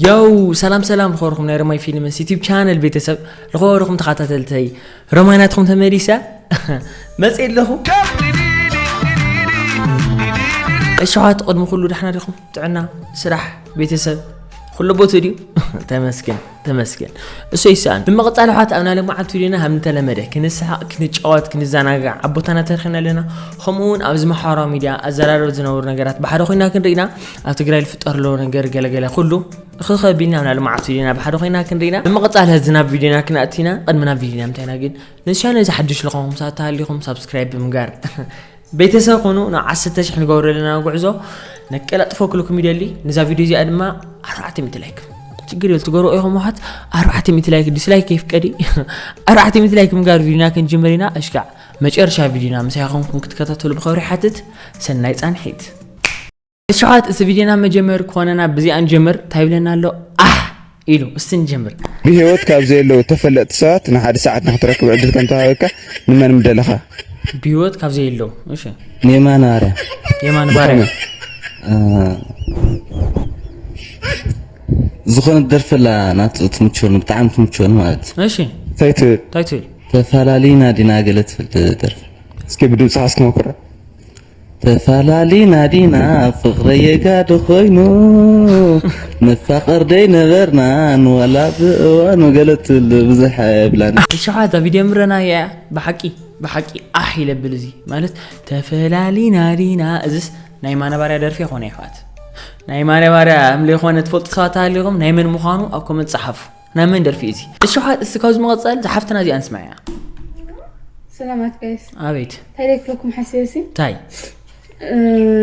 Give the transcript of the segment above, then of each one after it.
ዮው ሰላም ሰላም ልኸርኹም ናይ ረማይ ፊልምስ ዩቲብ ቻነል ቤተሰብ ልኸርኹም ተኸታተልተይ ረማይ ናትኹም ተመሊሰ መፅእ ኣለኹ እሸዋት ቅድሚ ኩሉ ዳሕና ዲኹም ጥዕና ስራሕ ቤተሰብ ኩሉ ቦት ድዩ ተመስገን ተመስገን እሱ ይሰኣን ብምቕፃል ኣሕዋት ኣብና ልማዓት ቪድዮና ሃብ እንተለመደ ክንስሓቕ ክንጫወት ክንዘናጋዕ ኣብ ቦታና ተረኺብና ኣለና ከምኡውን ኣብዚ ማሕበራዊ ሚድያ ኣዘራረብ ዝነብሩ ነገራት ብሓደ ኮይና ክንርኢና ኣብ ትግራይ ዝፍጠር ዘሎ ነገር ገለገለ ኩሉ እኽኸ ቢልና ናብ ልምዓት ቪድዮና ብሓደ ኮይና ክንርኢና ብምቕፃል ህዚ ናብ ቪድዮና ክንኣቲና ቅድሚ ናብ ቪድዮና ምታይና ግን ነዚ ቻነል እዚ ሓድሽ ልኾንኩም ሰዓት ተሃሊኹም ሳብስክራይብ ብምጋር ቤተሰብ ኮኑ ናብ ዓሰርተ ሽሕ ንገብሮ ዘለና ጉዕዞ ነቀላጥፎ ክልኩም ይደሊ ነዛ ቪድዮ እዚኣ ድማ ኣርባዕተ ሚእቲ ላይክ ችግር የል ትገብሩ ኢኹም ውሓት ኣርባዕተ ሚእቲ ላይክ ዲስላይክ የፍቀዲ ኣርባዕተ ሚእቲ ላይክ ምጋር ቪድዮና ክንጅምር ኢና እሽካዕ መጨረሻ ቪድዮና ምሳይ ኾንኩም ክትከታተሉ ብኸብሪ ሓትት ሰናይ ፃንሒት እሽኻት እዚ ቪድዮና መጀመሪ ክኾነና ብዚኣ ንጀምር እንታይ ይብለና ኣሎ ኣሕ ኢሉ እስቲ ንጀምር ብህይወት ካብ ዘየለዉ ተፈለጥቲ ሰባት ንሓደ ሰዓት ንክትረክብ ዕድል ከም ተዋሂበካ ንመን ምደለኻ ብህይወት ካብ ዘየለዉ እሺ ንየማነ ባርያ የማን ባርያ ዝኾነት ደርፊ ኣላ ናቱ ትምችወኒ ብጣዕሚ ትምችወኒ ማለት እዩ እሺ እንታይ ትብል እንታይ ትብል ተፈላሊና ዲና ገለ ትብል ደርፊ እስኪ ብድምፅኻ እስኪ ሞክራ ተፋላሊና ዲና ፍቅረይ የጋዲ ኮይኑ ንፋቀር ደይነበርናን ዋላ ብእዋኑ ገለ ትብሉ ብዙሕ ኣይብላን። እሻዓ እዛ ቪድዮ ምረናያ እያ ብሓቂ ብሓቂ ኣሕ ኢለብል እዚ ማለት ተፈላሊና ዲና እዚስ ናይ ማነባርያ ደርፊ ኮነ ይሕዋት ናይ ማነባርያ እምለይኮነ ትፈልጡ ሰባት ኣሃሊኹም ናይ መን ምዃኑ ኣብ ኮመንት ጸሓፉ ናይ መን ደርፊ እዚ እሺ እስቲ ካብዚ መቐፀል ዝሓፍትና እዚኣ ንስማዕያ ሰላማት ጋይስ ኣቤት እንታይ ደክለኩም ሓሲበ ሲ እንታይ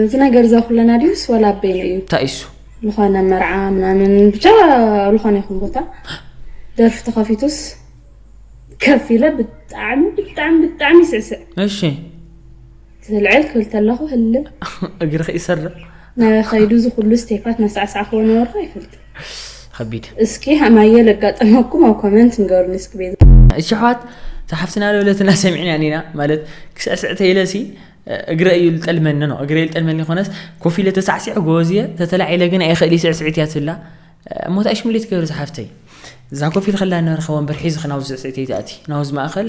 እዚ ነገር እዛ ኩለና ድዩስ ዋላ ኣበይነ እዩ እንታይ እሱ ዝኾነ መርዓ ምናምን ብቻ ዝኾነ ይኹን ቦታ ደርፊ ተኸፊቱስ ከፍ ኢለ ብጣዕሚ ብጣዕሚ ብጣዕሚ ይስዕስዕ እሺ ትልዕል ክብል ተለኹ ህልም እግርኺ ይሰርዕ ነበ ከይዱ እዚ ኩሉ ስቴፓት ናሳዕሳዕክዎ ነበርኩ ኣይፈልጥ ከቢድ እስኪ ሃማየ ለጋጠመኩም ኣብ ኮመንት ንገሩኒ እስኪ ቤዛ እሺ ኣሕዋት ተሓፍትና ለውለትና ሰሚዕና ኒና ማለት ክስዕስዕ ተይለሲ እግረ እዩ ልጠልመኒ ነው እግረ ልጠልመኒ ኮነስ ኮፍ ኢለ ተሳዕሲዕ ጎበዝ እየ ተተላዒለ ግን ኣይኽእል ስዕስዒት እያ ትብላ እሞ ታይሽ ምልት ገይሩ ዝሓፍተይ እዛ ኮፍ ኢል ከላ ንበርኸ ወንበር ሒዝኺ ናብዚ ስዕስዒት ይትኣቲ ናብዚ ማእኸል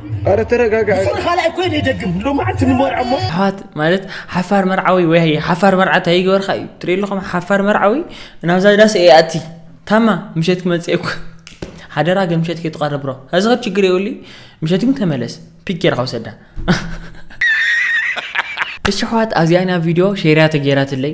ኣረ ተረጋጋ ሱር ካልኣይ ኮይነ ይደግም ሎማዓንቲ ንመርዖ እሞ ኣሕዋት ማለት ሓፋር መርዓዊ ወይ ሓፋር መርዓ እንታይ ይገበርካ እዩ ትርኢ ኣለኹም ሓፋር መርዓዊ ናብዛ ዳስ እየ ኣቲ ታማ ምሸት ክመፅእ እኮ ሓደራ ግን ምሸት ከይትቐርብ ብሮ እዚ ኸብ ችግር የብሉ ምሸት ግን ተመለስ ፒክ ጌርካ ውሰዳ እሺ ኣሕዋት ኣብዚኣ ኢና ቪድዮ ሼርያ ተገይራትለይ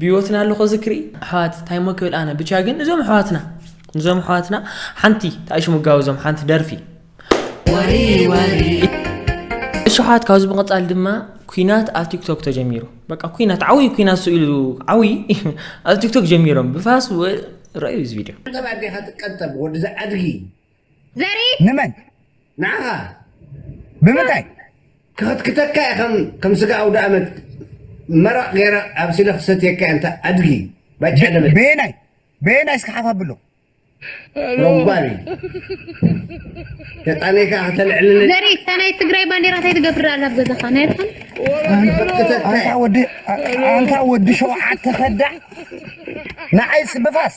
ብሂወትና ኣለኹ ዝክሪ ኣሕዋት ታይሞ ክብል ኣነ ብቻ ግን እዞም ኣሕዋትና እዞም ኣሕዋትና ሓንቲ ታእሽ ምጋቡ እዞም ሓንቲ ደርፊ እሽሓት ካብዚ ብምቕፃል ድማ ኩናት ኣብ ቲክቶክ ተጀሚሩ በቃ ኩናት ዓብይ ኩናት ስኢሉ ዓብይ ኣብ ቲክቶክ ጀሚሮም ብፋስ ረዩ እዚ ቪድዮ ገባዴኻ ትቀጠብ ወዲ ዝዓድጊ ዘርኢ ንመን ንዓኻ ብምንታይ ክኽትክተካ እየ ከም ከም ስጋ ኣውደኣመት መረቕ ገይረ ኣብሲለ ክሰትየካ እየ እንተ ኣድጊ ባጫ ደበል በየናይ በየናይ እስኪ ሓፍ ኣብሎ ሮጓሊ ተጣነይ ከዓ ከተልዕልኒ ዘርኢ እታ ናይ ትግራይ ባንዴራ እንታይ ትገብር ኣላ ኣብ ገዛኻ ናይ ኣድሓን ክኽትከተካ ኣንታ እየ ወዲ ኣንታ ወዲ ሸውዓተ ከዳዕ ንዓይስ ብፋስ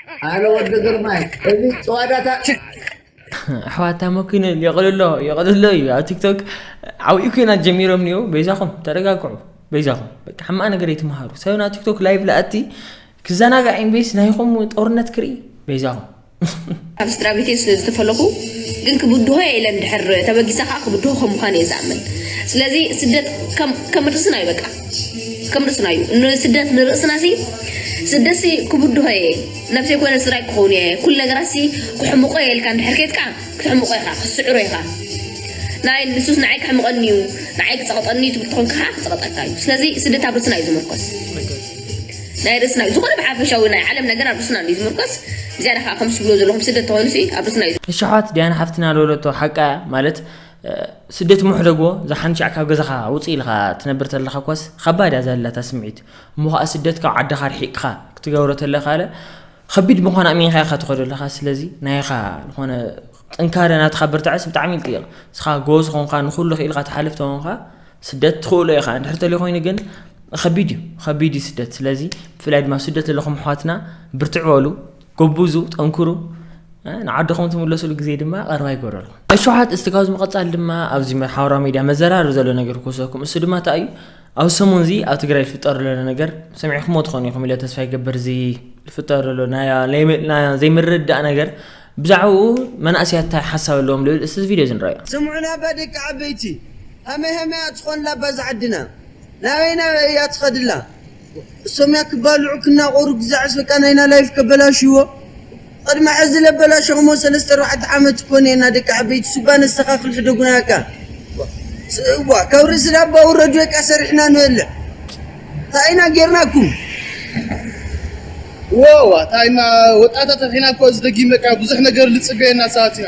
ኣነ ወዲ ግርማይ እዚ ጭዋዳታ ኣሕዋታ መኪነ የቕልሎ የቕልሎ እዩ ኣብ ቲክቶክ ዓብኡ ኩናት ጀሚሮም እኒኦ በይዛኹም ተረጋግዑ በይዛኹም በቃ ሕማቕ ነገር ይትምሃሩ ሰብ ናብ ቲክቶክ ላይቭ ለኣቲ ክዘናጋዕ ኢንቤስ ናይኹም ጦርነት ክርኢ በይዛኹም ኣብ ስድራ ቤተይ ስለ ዝተፈለኹ ግን ክብድሆ እየ ኢለን ድሕር ተበጊሳ ከዓ ክብድሆ ከም ምዃን እየ ዝኣምን ስለዚ ስደት ከም ርስና እዩ በቃ ከም ርእስና እዩ ንስደት ንርእስና ሲ ስደት ሲ ክብድሆ እየ ናብ ዘይኮነ ስራይ ክኸውን እየ ኩሉ ነገራት ሲ ክሕምቆ እየ ኢልካ እንድሕር ኬድካ ክትሕምቆ ኢኻ ክትስዕሮ ኢኻ ናይ ንሱስ ንዓይ ክሕምቐኒ እዩ ንዓይ ክፀቕጠኒ እዩ ትብል ተኾንካ ከዓ ክፀቕጠካ እዩ ስለዚ ስደት ኣብ ርእስና እዩ ዝምርኮስ ናይ ርእስና እዩ ዝኾነ ብሓፈሻዊ ናይ ዓለም ነገር ኣብ ርእስና እዩ ዝምርኮስ ዝያዳ ከዓ ከም ዝብሎ ዘለኹም ስደት ተኾይኑ ሲ ኣብ ርእስና እዩ እሽሓት ዲያን ሓፍትና ለወለቶ ሓቃ እያ ማለት ስደት ምሕደጎ ዝሓንሻዕ ካብ ገዛኻ ውፅእ ኢልኻ ትነብር ተለኻ እኳስ ኸባድ እያ ዘላታ ስምዒት እሞ ከዓ ስደት ካብ ዓድኻ ርሒቅኻ ክትገብሮ ተለካ ከቢድ ምዃን ኣሚንካ ኢኻ ትኸዶ ኣለኻ ስለዚ ናይኻ ዝኾነ ጥንካረ ናትኻ ብርታዐስ ብጣዕሚ ይልጥቕ ንስኻ ጎዝ ኾንካ ንኩሉ ክኢልካ ትሓልፍ ተኾንካ ስደት ትኽእሎ ኢኻ እንድሕር ተልዩ ኮይኑ ግን ከቢድ እዩ ከቢድ እዩ ስደት ስለዚ ብፍላይ ድማ ስደት ዘለኹም ኣሕዋትና ብርትዕ በሉ ጎቡዙ ጠንኩሩ ንዓድኹም ትምለሱሉ ግዜ ድማ ቀርባ ይገብረሉ። ኣሽሓት እስቲ ካብዚ ምቐጻል ድማ ኣብዚ ሓበራዊ ሚድያ መዘራረቢ ዘሎ ነገር ክወሰኩም እሱ ድማ እንታይ እዩ ኣብ ሰሙን እዚ ኣብ ትግራይ ዝፍጠር ዘሎ ነገር ሰሚዕኩሞ ትኾኑ ኢኹም ኢለ ተስፋ ይገብር እዚ ዝፍጠር ዘሎ ናይ ዘይምርዳእ ነገር ብዛዕባኡ መናእሰያት እንታይ ሓሳብ ኣለዎም ልብል እስቲ እዚ ቪድዮ እዚ ንረኣዮ ስምዑና እባ ደቂ ዓበይቲ ሃመይ ሃመይ እያ ትኾንላ እባ እዛ ዓድና ናበይ ናበይ እያ ትኸድላ ሰሚያ ክባልዑ ክናቆሩ ክዛዕስ በቃ ናይና ላይፍ ከበላሽዎ ቕድሚ ሐዚ ለበላሸኹሞ ሰለስተ ኣርባዕተ ዓመት እኮ ኔና ደቂ ዓበይቲ ሱባ ነስተኻኽል ሕደጉና በቃ እዋ ካብ ርእሲ ላባ ውረዱ በቃ ሰሪሕና ንበልዕ ታይ ኢና ጌርናኩም ወዋ ታይና ወጣታት ርሒና እኮ እዚ ደጊም በቃ ብዙሕ ነገር ልፅበየና ሰባት ኢና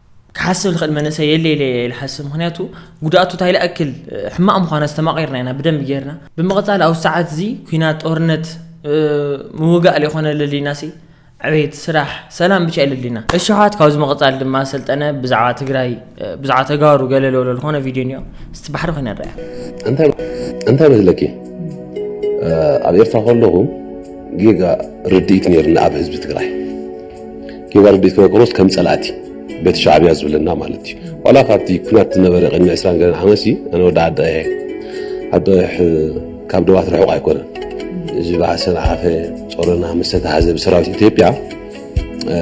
ክሓስብ ዝኽእል መንእሰይ የለ ኢለ እየ ዝሓስብ ምክንያቱ ጉድኣቱ እንታይ ላእክል ሕማቕ ምዃኑ ኣስተማቒርና ኢና ብደንቢ ጌርና ብምቕጻል ኣብዚ ሰዓት እዚ ኩናት ጦርነት ምውጋእ ለይኮነ ለሊናሲ ዕቤት ስራሕ ሰላም ብቻ የለሊና እሽሓት ካብዚ ምቕጻል ድማ ሰልጠነ ብዛዕባ ትግራይ ብዛዕባ ተጋሩ ገለ ለሎ ዝኾነ ቪድዮ እኒኦ እስቲ ባሕሪ ኮይነ ንርያ እንታይ መስለኪ ኣብ ኤርትራ ከለኹ ጌጋ ርድኢት ነይርኒ ኣብ ህዝቢ ትግራይ ጌጋ ርድኢት መቅሮስ ከም ጸላእቲ በቲ ሻዕብያ ዝብለና ማለት እዩ ዋላ ካብቲ ኩናት ዝነበረ ቅድሚ 20 ገለን ዓመት ሲ ኣነ ወዲ ዓዲ ቀይሕ ዓዲ ቀይሕ ካብ ደባት ርሑቕ ኣይኮነን እዚ ባዕሰን ዓፈ ጾረና ምስ ተታሓዘ ብሰራዊት ኢትዮጵያ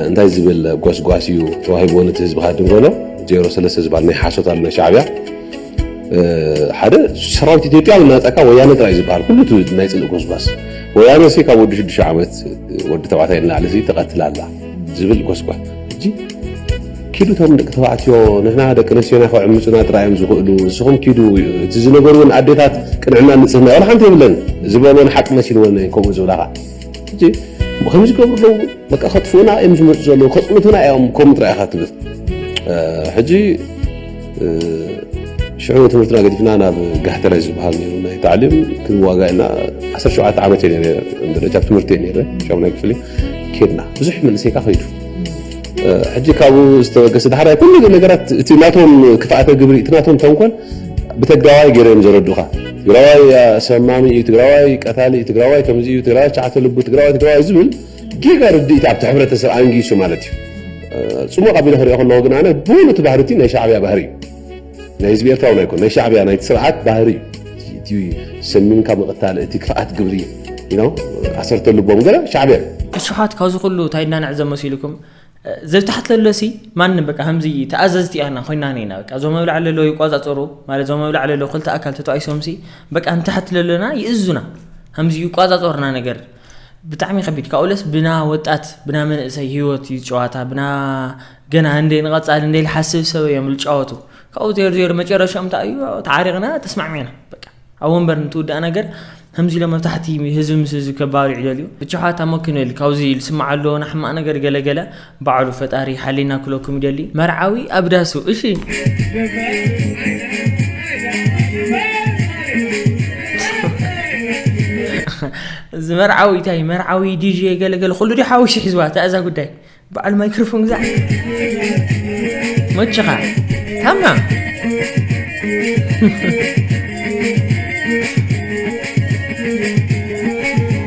እንታይ ዝብል ጎስጓስ እዩ ተዋሂቦ ነቲ ህዝቢ ካድንጎሎ ዜሮ ሰለስተ ዝበሃል ናይ ሓሶት ኣሎ ናይ ሻዕብያ ሓደ ሰራዊት ኢትዮጵያ ናፃካ ወያነ ጥራይ ዝበሃል ኩሉ እቲ ናይ ፅልእ ጎስጓስ ወያነ ሲ ካብ ወዲ ሽዱሽተ ዓመት ወዲ ተባዕታይ ንላዕሊ ሲ ተቐትላ ኣላ ዝብል ጎስጓስ እጂ ኪዱ እቶም ደቂ ተባዕትዮ ንሕና ደቂ ኣንስትዮና ክዕምፁና ጥራይ እዮም ዝኽእሉ ንስኹም ኪዱ እቲ ዝነገርዎን ኣዴታት ቅንዕና ንፅህና ዋላ ሓንቲ የብለን ዝበልዎን ሓቂ መሲልዎን ከምኡ ዝብላኻ እጂ ከም ዝገብሩ ኣለዉ በቃ ከጥፍኡና እዮም ዝመፁ ዘለዉ ከፅንቱና እዮም ከምኡ ጥራይ ኢኻ ትብል ሕጂ ሽዑ ትምህርትና ገዲፍና ናብ ጋህተረ ዝበሃል ነይሩ ናይ ታዕሊም ክንዋጋ ኢና ዓሰርተ ሸውዓተ ዓመት እየ ነረ ደረጃ ትምህርቲ እየ ነረ ሻሙናይ ክፍሊ ኬድና ብዙሕ መንእሰይካ ከይዱ ሕጂ ካብኡ ዝተበገሰ ዳሕራይ ኩሉ ነገራት እቲ ናቶም ክፍኣተ ግብሪ እቲ ናቶም ተንኮል ብተግራዋይ ገይሮም ዘረዱኻ ትግራዋይ ኣሰማሚ እዩ ትግራዋይ ቀታሊ እዩ ትግራዋይ ከምዚ እዩ ትግራዋይ ሸዓተ ልቡ ትግራዋይ ትግራዋይ ዝብል ጌጋ ርድኢት ኣብቲ ሕብረተሰብ ኣንጊሱ ማለት እዩ። ጽሙቕ ኣቢለ ክሪኦ ከለኹ ግን ኣነ ብሙሉ እቲ ባህሪ እቲ ናይ ሻዕብያ ባህሪ እዩ። ናይ ህዝቢ ኤርትራ እውን ኣይኮን ናይ ሻዕብያ ናይቲ ስርዓት ባህሪ እዩ። እቲ ሰሚምካ ምቕታል እቲ ክፍኣት ግብሪ ኢሎም ዓሰርተ ልቦም ገለ ሻዕብያ እዩ። እሹሓት ካብዚ ኩሉ ታይ እናነዕዘ መሲልኩም ዘይተሓትለለሲ ማንም በቃ ከምዚ ተኣዘዝቲ ያና ኮይናን ኢና በቃ ዞም ኣብላዕሊ ለሎ ይቋጻጸሩ ማለት ዞም ኣብላዕሊ ለሎ ክልተ ኣካል ተተዋኢሶምሲ በቃ ንተሓትለለና ይእዙና ከምዚ ይቋጻጸሩና ነገር ብጣዕሚ ከቢድ ካብኡለስ ብና ወጣት ብና መንእሰይ ሂወት እዩ ጨዋታ ብና ገና እንደ ንቐጻሊ እንደ ዝሓስብ ሰብ እዮም ዝጫወቱ ካብኡ ዜር ዜር መጨረሻኦም እንታይ እዩ ተዓሪቕና ተስማዕሚዕና በቃ ኣብ ወንበር እንትውዳእ ነገር ከምዚ ኢሎም ኣብ ታሕቲ ህዝቢ ምስ ህዝቢ ከባሪዑ ደልዩ ብቻ ሓታ ሞኪነል ካብዚ ዝስማዕ ኣለዎ ንሕማቕ ነገር ገለገለ ባዕሉ ፈጣሪ ይሓሊና ክለኩም ይደሊ መርዓዊ ኣብ ዳሱ እሺ። እዚ መርዓዊ እንታይ መርዓዊ ዲጄ ገለገለ ኩሉ ዲ ሓዊሱ ሒዝዋ እታ እዛ ጉዳይ በዓል ማይክሮፎን ግዛዕ መችኻ ታማ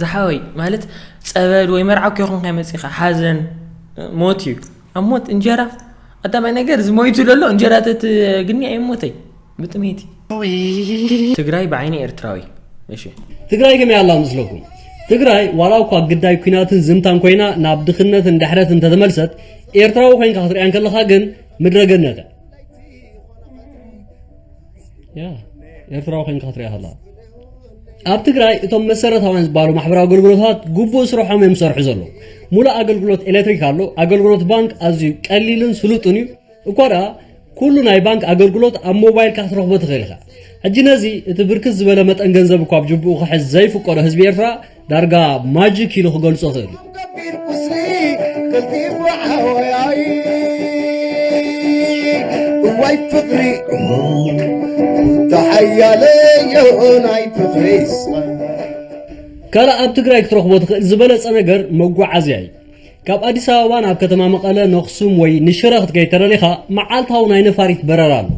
ዝሓወይ ማለት ፀበል ወይ መርዓ እኮ ይኹን ከይመፅእኻ ሓዘን ሞት እዩ ኣብ ሞት እንጀራ ኣዳማይ ነገር ዝሞይቱ ለሎ እንጀራ ተትግኒ ኣይሞተይ ብጥሜቲ ትግራይ ብዓይኒ ኤርትራዊ እሺ ትግራይ ከመይ ኣላ ምስለኩም ትግራይ ዋላ እኳ ግዳይ ኩናትን ዝምታን ኮይና ናብ ድኽነትን ድሕረት እንተተመልሰት ኤርትራዊ ኮይንካ ክትሪያ እንከለኻ ግን ምድረ ገነተ ያ ኤርትራዊ ኮይንካ ክትሪያ ከለኻ ኣብ ትግራይ እቶም መሰረታውያን ዝበሃሉ ማሕበራዊ ኣገልግሎታት ግቡእ ስርሖም እዮም ዝሰርሑ ዘለዉ ሙሉእ ኣገልግሎት ኤሌክትሪክ ኣሎ ኣገልግሎት ባንክ ኣዝዩ ቀሊልን ስሉጥን እዩ እኳ ደኣ ኩሉ ናይ ባንክ ኣገልግሎት ኣብ ሞባይልካ ክትረኽቦ ትኽእል ኢኻ። ሕጂ ነዚ እቲ ብርክት ዝበለ መጠን ገንዘብ እኳ ኣብ ጅብኡ ክሕዝ ዘይፍቀዶ ህዝቢ ኤርትራ ዳርጋ ማጂክ ኢሉ ክገልጾ ይኽእል እዩ። እዋይ ፍቕሪ ካልእ ኣብ ትግራይ ክትረኽቦ ትኽእል ዝበለጸ ነገር መጓዓዝያ እዩ። ካብ ኣዲስ ኣበባ ናብ ከተማ መቐለ ነኽሱም ወይ ንሽረ ክትከይድ ተደሊኻ መዓልታዊ ናይ ነፋሪት በረራ ኣሎ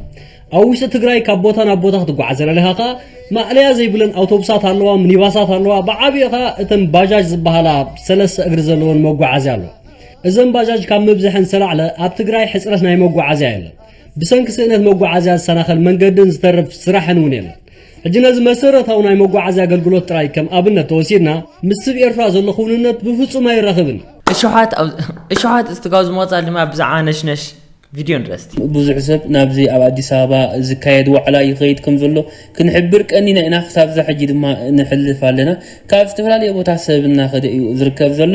ኣብ ውሽጢ ትግራይ ካብ ቦታ ናብ ቦታ ክትጓዓዝ ዘለኻ ከዓ ማእለያ ዘይብለን ኣውቶቡሳት ኣለዋ ሚኒባሳት ኣለዋ ብዓብዪ ከዓ እተን ባጃጅ ዝበሃላ ሰለስተ እግሪ ዘለወን መጓዓዝያ ኣለዋ እዘን ባጃጅ ካብ ምብዝሐን ዝተላዕለ ኣብ ትግራይ ሕፅረት ናይ መጓዓዝያ የለን ብሰንኪ ስእነት መጓዓዝያ ዝሰናኸል መንገድን ዝተርፍ ስራሕን እውን የለን ሕጂ ነዚ መሰረታዊ ናይ መጓዓዝያ ኣገልግሎት ጥራይ ከም ኣብነት ተወሲድና ምስ ስብ ኤርትራ ዘሎ ክውንነት ብፍጹም ኣይራኽብን እዩ። እሾሓት ኣብ እሾሓት እስትጋዙ ምቕጻል ድማ ብዛዕባ ነሽነሽ ቪድዮ ንረስቲ። ብዙሕ ሰብ ናብዚ ኣብ ኣዲስ ኣበባ ዝካየድ ዋዕላ ይኸይድ ከምዘሎ ክንሕብር ቀኒና ኢና ክሳብ እዛ ሕጂ ድማ ንሕልፍ ኣለና ካብ ዝተፈላለየ ቦታ ሰብ እናኸደ እዩ ዝርከብ ዘሎ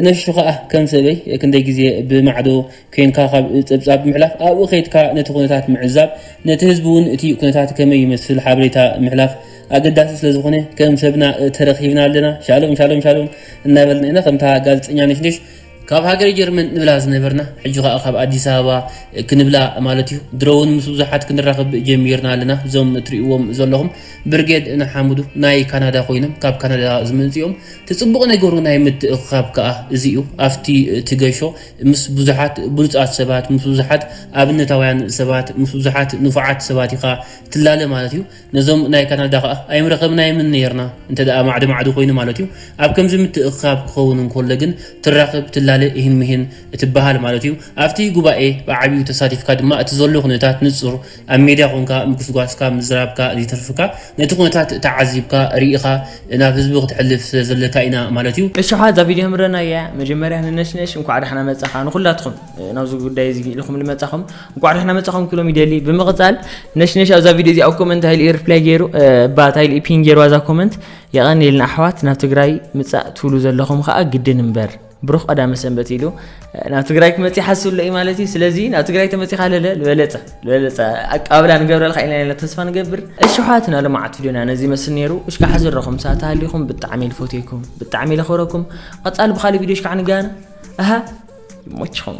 ነሹ ከኣ ከም ሰበይ ክንደይ ግዜ ብማዕዶ ኴንካ ካብ ጸብጻብ ምሕላፍ ኣብኡ ከይድካ ነቲ ኩነታት ምዕዛብ ነቲ ህዝቢ እውን እቲ ኩነታት ከመይ ይመስል ሓበሬታ ምሕላፍ ኣገዳሲ ስለ ዝኾነ ከም ሰብና ተረኺብና ኣለና ሻሎም ሻሎም ሻሎም እናበልና ኢና ከምታ ጋዜጠኛ ነሽነሽ ካብ ሃገረ ጀርመን ንብላ ዝነበርና ሕጂ ከኣ ካብ ኣዲስ ኣበባ ክንብላ ማለት እዩ ድሮ እውን ምስ ብዙሓት ክንራኸብ ጀሚርና ኣለና እዞም ትሪእዎም ዘለኹም ብርጌድ ንሓምዱ ናይ ካናዳ ኮይኖም ካብ ካናዳ ዝመጽኡ እዮም እቲ ጽቡቕ ነገሩ ናይ ምትእኽኻብ ከኣ እዚ እዩ ኣብቲ እቲ ገሾ ምስ ብዙሓት ብሉጻት ሰባት፣ ምስ ብዙሓት ኣብነታውያን ሰባት፣ ምስ ብዙሓት ንፉዓት ሰባት ኢኻ ትላለ ማለት እዩ። ነዞም ናይ ካናዳ ከኣ ኣይምረኸብናዮምን ኔርና እንተ ደኣ ማዕዶ ማዕዶ ኮይኑ ማለት እዩ። ኣብ ከምዚ ምትእኽኻብ ክኸውን እንከሎ ግን ትራኽብ፣ ትላለ፣ ኢሂን ምሂን እትበሃል ማለት እዩ። ኣብቲ ጉባኤ ብዓቢኡ ተሳቲፍካ ድማ እቲ ዘሎ ኩነታት ንጹር ኣብ ሜድያ ኮንካ ምጉስጓስካ ምዝራብካ ዝይትርፍካ ነቲ ኩነታት ተዓዚብካ ሪኢኻ ናብ ህዝቢ ክትሕልፍ ስለ ዘለካ ኢና ማለት እዩ። እሺ እሓ እዛ ቪድዮ የምረናያ መጀመርያ ንነሽነሽ እንኳዕ ዳሕና መጻኻ ንኹላትኹም ናብዚ ጉዳይ እዚ ኢልኹም ልመጻኹም እንኳዕ ዳሕና መጻኹም ክብሎም ይደሊ ብምቕጻል ነሽነሽ ኣብዛ ቪድዮ እዚኣ ኣብ ኮመንት እንታይ ኢሉ ሪፕላይ ገይሩ እባ እንታይ ኢሉ ፒን ገይርዋ እዛ ኮመንት የቐንየልና ኣሕዋት ናብ ትግራይ ምጻእ ትብሉ ዘለኹም ኸኣ ግድን እምበር ብሩኽ ቀዳመ ሰንበት ኢሉ ናብ ትግራይ ክመፅ ይሓስብ ኣሎ እዩ ማለት እዩ ስለዚ ናብ ትግራይ ተመፂኻ ለለ ዝበለፀ ዝበለፀ ኣቀባብላ ንገብረልካ ኢና ኢና ተስፋ ንገብር እሺ ኣሕዋትና ልምዓት ቪድዮና ነዚ ይመስል ነይሩ እሽ ከዓ ዝረኹም ሰዓት ሃሊኹም ብጣዕሚ ልፈትየኩም ብጣዕሚ ለኽብረኩም ቐፃሊ ብካሊእ ቪድዮ እሽ ከዓ ንገና ኣሃ ይሞችኹም